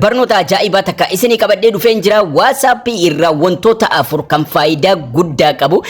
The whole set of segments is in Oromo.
Barnoota ajaa'ibaa takka isinii qabadhee dhufeen jira waasaappii irraa wantoota afur kan faayidaa guddaa qabu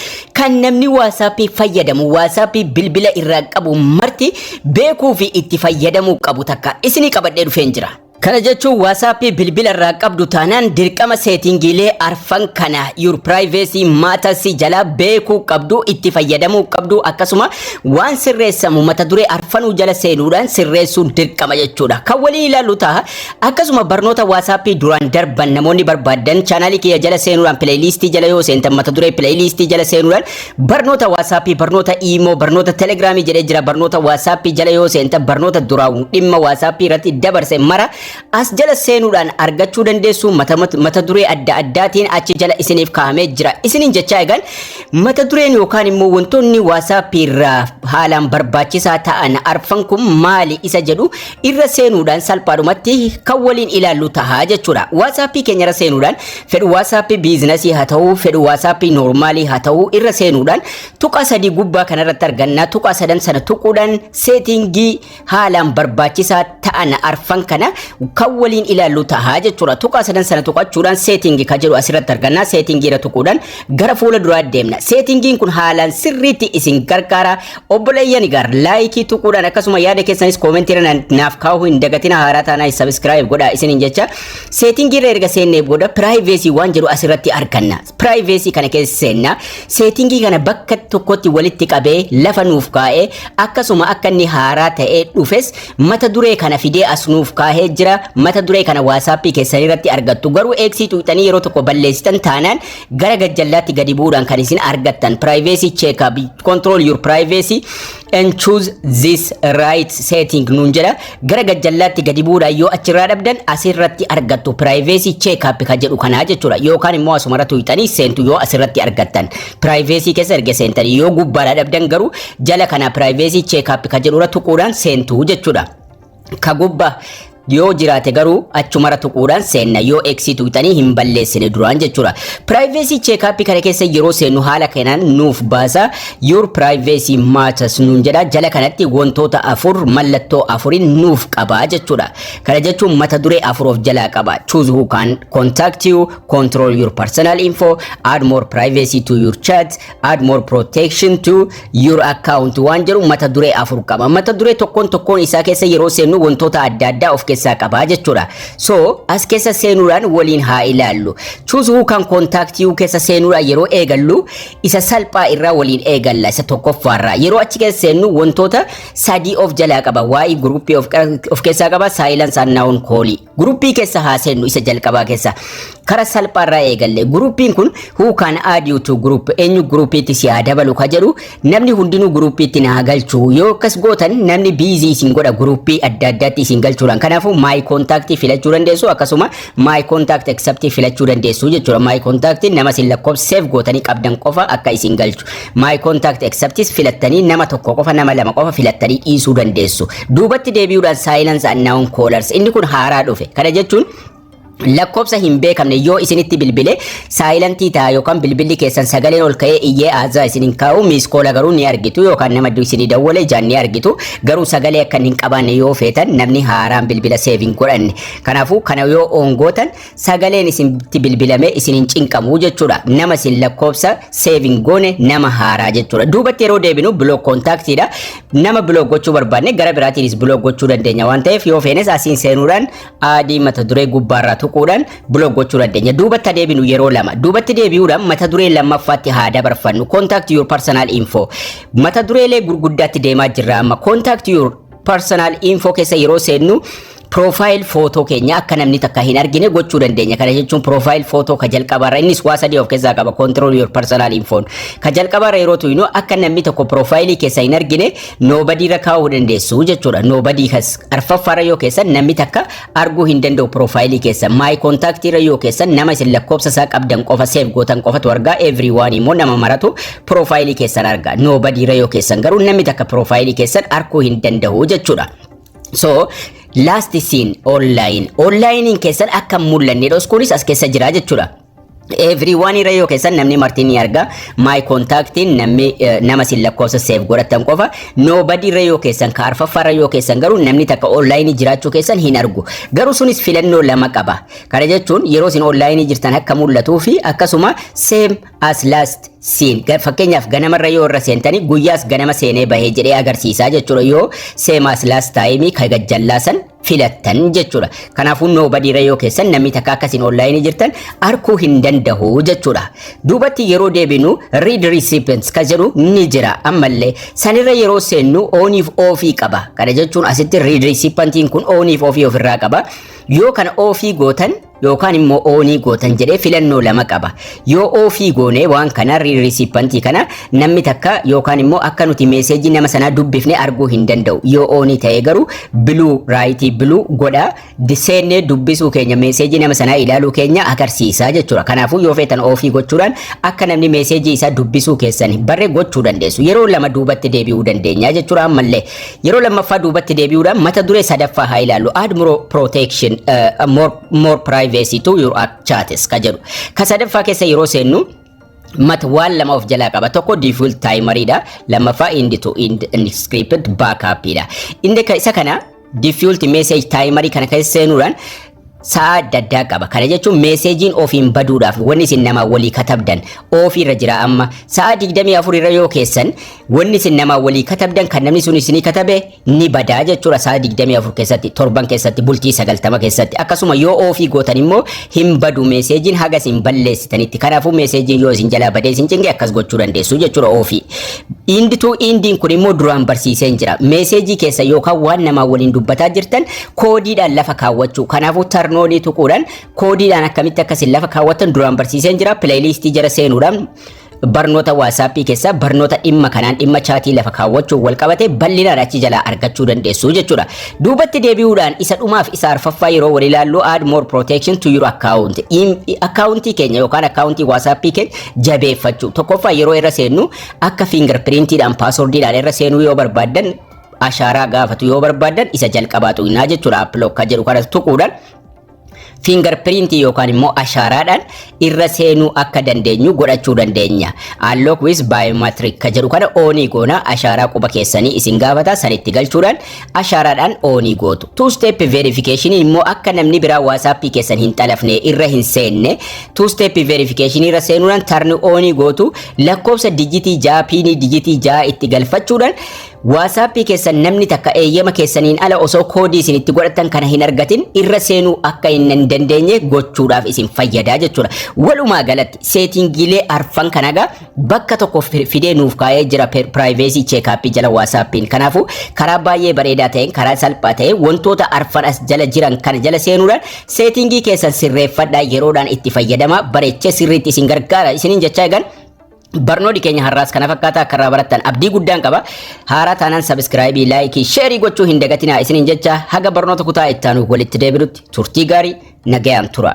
kan namni waasaappii fayyadamu waasaappii bilbila irraa qabu marti beekuu fi itti fayyadamuu qabu takka isinii qabadhee dhufeen jira. Kana jechuun waasaappii bilbila irraa qabdu taanaan dirqama seetingiilee arfan kana your privacy matters jalaa beekuu qabdu itti fayyadamuu qabdu akkasuma waan sirreessamu mata duree arfanuu jala seenuudhaan sirreessuun dirqama jechuudha. Kan walii ilaalu ta'a Akkasuma barnoota WhatsApp duraan darban namoonni barbaaddan chaanaalii kiyya jala seenuudhaan pileeyiliistii jala yoo seentan mata duree pileeyiliistii jala seenuudhaan barnoota WhatsApp, barnoota Imo, barnoota Telegram jedhee jira barnoota WhatsApp jala yoo seentan barnoota duraan dhimma WhatsApp irratti dabarse mara as jala seenuudhaan argachuu dandeessu mata, mata, mata duree adda addaatiin achi jala isiniif kaa'amee jira. Isiniin jechaa egaan mata dureen yookaan immoo wantoonni WhatsApp irraa haalaan barbaachisaa ta'an arfan kun maali isa jedhu irra seenuudhaan salphaadhumatti kan waliin ilaallu taha jechuudha. Waasaappii keenya irra seenuudhaan fedhu waasaappii biizinasii haa ta'u, fedhu waasaappii noormaalii haa ta'u irra seenuudhaan tuqaa sadii gubbaa kanarratti arganna. Tuqaa sadan sana tuquudhaan seetingii haalaan barbaachisaa ta'an arfan kana kan waliin ilaallu taha jechuudha. Tuqaa sadan sana tuqachuudhaan seetingii kan jedhu asirratti arganna. Seetingii irra tuquudhaan gara fuula duraa deemna. Seetingiin kun haalaan sirriitti isin gargaara. Obboleeyyan egaa laayikii tuquudhaan akkasuma yaada keessanis koomentiirra naaf kaa'uu hin dagatina haaraa taanaa sabiskiraayib godhaa isiniin jecha seetingiirra erga seennee booda piraayiveesii waan jedhu asirratti arganna. Piraayiveesii kana keessa seenna seetingii kana bakka tokkotti walitti qabee lafa nuuf kaa'ee akkasuma akka inni haaraa ta'ee dhufes mata duree kana fidee as nuuf kaa'ee jira mata duree kana waasaappii keessanirratti argattu garuu eegsii tuqxanii yeroo tokko balleessitan taanaan gara gajjallaatti gadi bu'uudhaan kan isin argattan privacy check up control your privacy and choose this right setting nuun jedha gara gajjallaatti gadi bu'uudhaan yoo achirraa dhabdan asirratti argattu privacy check up kan jedhu kanaa jechuudha yookaan immoo asumarra tuqxanii seentu yoo asirratti argattan privacy keessa erga seentanii yoo gubbaadhaa dhabdan garuu jala kana privacy check up kan jedhurra tuquudhaan seentu jechuudha. ka gubba yoo jiraate garuu achumara tuquudhaan seenna yoo eegsii tuqxanii hin balleessine duraan jechuudha. Privacy check-up kana keessa yeroo seennu haala kanaan nuuf baasa your privacy matters nuun jedha jala kanatti wantoota afur mallattoo afuriin nuuf qaba jechuudha. Kana jechuun mata duree afur of jalaa qaba. Choose who can contact you, control your personal info, add more privacy to your chat, add more protection to your account waan jedhu mata duree afur qaba. Mata duree tokkoon tokkoon isaa keessa yeroo seennu wantoota adda addaa of keessaa qaba jechuudha. So as keessa seenuudhaan waliin haa ilaallu. Choose who can contact you keessa seenuudhaan yeroo eegallu isa salphaa irraa waliin eegalla isa tokkoffaarraa. Yeroo achi keessa seennu wantoota sadii of jalaa qaba. Waa'ee group of, of keessaa qaba silence and noun call. Guruppii keessa haa seennu isa jalqabaa keessa kara salphaarraa eegalle guruppiin kun who can add you to group eenyu guruppiitti si haa dabalu ka jedhu namni hundinuu guruppiitti na haa galchu yoo akkas gootan namni biizii isin godha guruppii adda addaatti isin galchuudhaan kanaafuu maayi kontaaktii filachuu dandeessu akkasuma maayi kontaaktii ekseptii filachuu dandeessu jechuudha maayi kontaaktii nama isin lakkoofsa seef gootanii qabdan qofa akka isin galchu My contact accepts filattanii nama tokko qofa nama lama qofa filattanii dhiisuu dandeessu. Duubatti deebi'uudhaan silence unknown callers inni kun haaraa dhufe. Kana jechuun lakkoofsa hin beekamne yoo isinitti bilbile saayilantii ta'a yookaan bilbilli keessan sagaleen ol ka'ee iyyee aazaa isin hin kaa'u miiskoola garuu ni argitu yookaan nama isinii dawwale ijaan ni argitu garuu sagalee akka hin qabaanne yoo feetan namni haaraan bilbila seev hin godhanne kanaafuu kana yoo oongootan sagaleen isinitti bilbilamee isin hin cinqamu jechuudha. Nama isin lakkoofsa seevin goone nama haaraa jechuudha. Duubatti yeroo deebinu biloog koontaaktiidha. Nama biloog gochuu barbaanne gara biraatiinis biloog gochuu dandeenya waan ta'eef yoo feenes asiin seenuudhaan adii mata duree gubbaarraa tuquudhaan biloog gochuu dandeenya. Duubatti deebinu yeroo lama. Duubatti deebi'uudhaan mata duree lammaffaatti haa dabarfannu. Contact your personal info. Mata dureelee gurguddaatti deemaa jirra amma. Contact your personal info keessa yeroo seennu profile photo keenya akka namni takka hin argine gochuu dandeenya. Kana jechuun profile photo ka jalqabaarra innis waa sadii of keessaa qaba control your personal info. Ka jalqabaarra yeroo tuynu akka namni tokko profile keessa hin argine nobody irra kaa'uu dandeessu jechuudha. Nobody kas arfaffaarra yoo keessan namni takka arguu hin danda'u piroofaayilii keessan maayi kontaaktii irra yoo keessan nama isin lakkoofsa isaa qabdan qofa seef gootan qofatu argaa every one immoo nama maratu piroofaayilii keessan argaa noobadii irra yoo keessan garuu namni takka piroofaayilii keessan arguu hin danda'u jechuudha. So last seen online onlinein keessan akka hin mul'anne dhoskuunis as keessa jira jechuudha. Everyone irra yoo keessan namni marti ni arga. My contact namni eh, nama sin lakkoofsa save godhatan qofa. Nobody irra yoo keessan ka arfaffaa irra yoo keessan garuu namni takka online jiraachuu keessan hin argu. Garuu sunis filannoo lama qaba. Kana jechuun yeroo sin online jirtan akka mul'atuu fi akkasuma same as last seen. Ga- Fakkeenyaaf ganama irra yoo irra seentanii guyyaas ganama seenee bahee jedhee agarsiisaa jechuudha yoo same as last time ka gajjallaasan filattan jechuudha. Kanaafuu nobody rayoo keessan namni takka akkasiin online jirtan arkuu hin danda'u jechuudha. Duubatti yeroo deebinu read recipients ka jedhu ni jira ammallee sanirra yeroo seennu ooniif oofii qaba. Kana jechuun asitti read recipientiin kun ooniif oofii ofirraa qaba. Yoo kana oofii gootan yookaan immoo oonii gootan jedhee filannoo lama qaba. Yoo oofii goonee waan kana riisiippantii kana namni takka yookaan immoo akka nuti meeseejii nama sanaa dubbifne arguu hin danda'u. Yoo oonii ta'ee garuu biluu raayitii biluu godha seennee dubbisuu keenya meeseejii nama sanaa ilaaluu keenya agarsiisa jechuudha. Kanaafuu yoo feetan oofii gochuudhaan akka namni meeseejii isaa dubbisuu keessan barre gochuu dandeessu. Yeroo lama duubatti deebi'uu dandeenya jechuudha ammallee Yeroo lammaffaa duubatti deebi'uudhaan mata duree sadaffaa haa ilaallu. Add more protection, uh, more, more privacy to your chats ka jedhu. Ka sadaffaa keessa yeroo seennu mat waan lama of jalaa qaba. Tokko default timer dha. Lammaffaa end to end script backup dha. Inni isa kana default message timer kana keessa seenuudhaan sa'a adda addaa qaba. Kana jechuun meeseejiin ofiin baduudhaaf wanni isin namaa walii katabdan ofii irra jira amma sa'a 24 irra yoo keessan wanni isin namaa walii katabdan kan namni sun isinii katabe ni badaa jechuudha sa'a 24 keessatti torban keessatti bultii 90 keessatti akkasuma yoo ofii gootan immoo hin badu meeseejiin haga isin balleessitanitti kanaafuu meeseejiin yoo isin jalaa badee isin cinqe akkas gochuu dandeessu jechuudha ofii. Indituu indiin kun immoo duraan barsiiseen jira meeseejii keessa yookaan waan namaa waliin dubbataa jirtan koodiidhaan lafa kaawwachuu. Kanaafuu tarnoolii tuquudhaan koodiidhaan akkamitti akkasiin lafa kaawwatan duraan barsiiseen jira. Pileeyiliistii jala seenuudhaan barnoota waasaappii keessaa barnoota dhimma kanaan dhimma chaatii lafa kaawwachuun wal qabate bal'inaan achi jalaa argachuu dandeessu jechuudha. Duubatti deebi'uudhaan isa dhumaaf isa arfaffaa yeroo wal ilaallu add more protection to your account. Akkaawuntii keenya yookaan akkaawuntii waasaappii keenya jabeeffachuu. Tokkoffaa yeroo irra seennu akka fingerprintiidhaan paaswordiidhaan irra seenuu yoo barbaaddan ashaaraa gaafatu yoo barbaaddan isa jalqabaa tuqinaa jechuudha appiloo akka jedhu kanas tuquudhaan fiingar piriintii yookaan immoo ashaaraadhaan irra seenuu akka dandeenyu godhachuu dandeenya. Unlock with biometric ka jedhu kana oonii goona ashaaraa quba keessanii isin gaafata sanitti galchuudhaan ashaaraadhaan oonii gootu. Two step verification immoo akka namni biraa waasaappii keessan hin xalafne irra hin seenne two step verification irra seenuudhaan tarni oonii gootu lakkoofsa dijitii ja'a piinii dijitii ja'a itti galfachuudhaan WhatsApp keessan namni takka eeyyama keessaniin ala osoo koodii isin itti godhattan kana hin argatin irra seenuu akka hin hin dandeenye gochuudhaaf isin fayyada jechuudha. Walumaa galatti seetingiilee arfan kana egaa bakka tokko fi- fidee nuuf kaa'ee jira piraayivesii cheekaappii jala WhatsAppiin. Kanaafuu karaa baay'ee bareedaa ta'een karaa salphaa ta'een wantoota arfan as jala jiran kana jala seenuudhaan seetingii keessan sirreeffadhaa yeroodhaan itti fayyadamaa bareechee sirriitti isin gargaara isiniin jechaa egan Barnooti keenya har'aas kana fakkaata akka irraa barattan abdii guddaan qaba. Haaraa taanaan sabiskiraayibii, laayikii, sheerii gochuu hin dagatinaa isiniin jecha haga barnoota kutaa itti aanuuf walitti deebinutti turtii gaarii nagayaan tura.